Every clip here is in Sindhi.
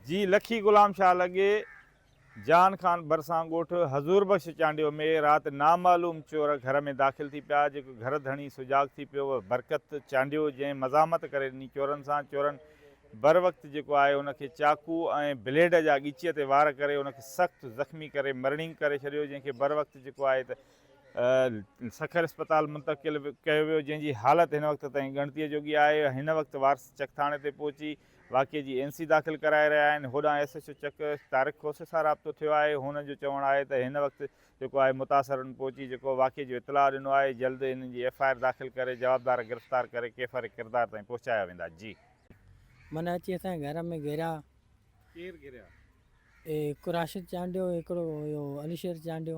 جي لکي غلام شاهه لڳي، جان خان ڀرسان ڳوٺ حضور بخش چانڊيو ۾ رات نامعلوم چور گهر ۾ داخل ٿي پيا، جيڪو گهر ڌڻي سجاڳ ٿي پيو هو برڪت چانڊيو جنهن مزاحمت ڪري ڏني چورن سان، چورن بروقت جيڪو آهي ان کي چاقو ۽ بليڊ جا ڳچيء تي وار ڪري ان کي سخت زخمي ڪري مرڻينگ ڪري ڇڏيو جنهن کي بروقت جيڪو آهي ته سکر اسپتال منتقل ڪيو ويو جنهن جي حالت هن وقت تائين ڳڻتيء جوڳي آهي، هن وقت وارث چڪ ٿاڻي تي پهچي. واقعي جي اين سي داخل ڪرائي رهيا آهن هوڏانهن ايس ايڇ او چڪ طارق کوسي سان رابطو ٿيو آهي هونئن جو چوڻ آهي ته هن وقت جيڪو آهي متاثرن پهچي جيڪو واقعي جو اطلاع ڏنو آهي جلد انهن جي ايف آء آر داخل ڪري جوابدار گرفتار ڪري ڪيفر ڪردار تائين پهچايا ويندا جي. من اچي اسان جي گهر ۾ گهريا. ڪير گهريا؟ اي هڪ راشد چانڊيو هڪڙو هيو علي شير چانڊيو.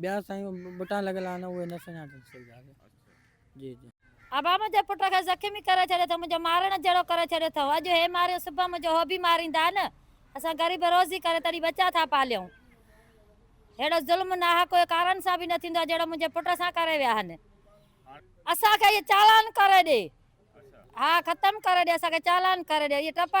ٻيا سائين ٻٽا لڳل آهن اهي نه سڃاڻجن سگهيا سي. اچھا. جي جي. ابا منهنجي پٽ کي زخمي ڪري ڇڏيو اٿئون منهنجو مارڻ جهڙو ڪري ڇڏيو اٿئون اڄ هي ماريو صبح منهنجو هو به ماريندا نه اسان غريب روزي ڪري تڏهن ٻچا ٿا پاليون ههڙو ظلم ناحق ڪوئي ڪارن سان به نه ٿيندو آهي جهڙو منهنجي پٽ سان ڪري ويا آهن اسان کي اهي چالان ڪري ڏي اچھا. ها ختم ڪري ڏي اسان کي چالان ڪري ڏي اهي ٽپا.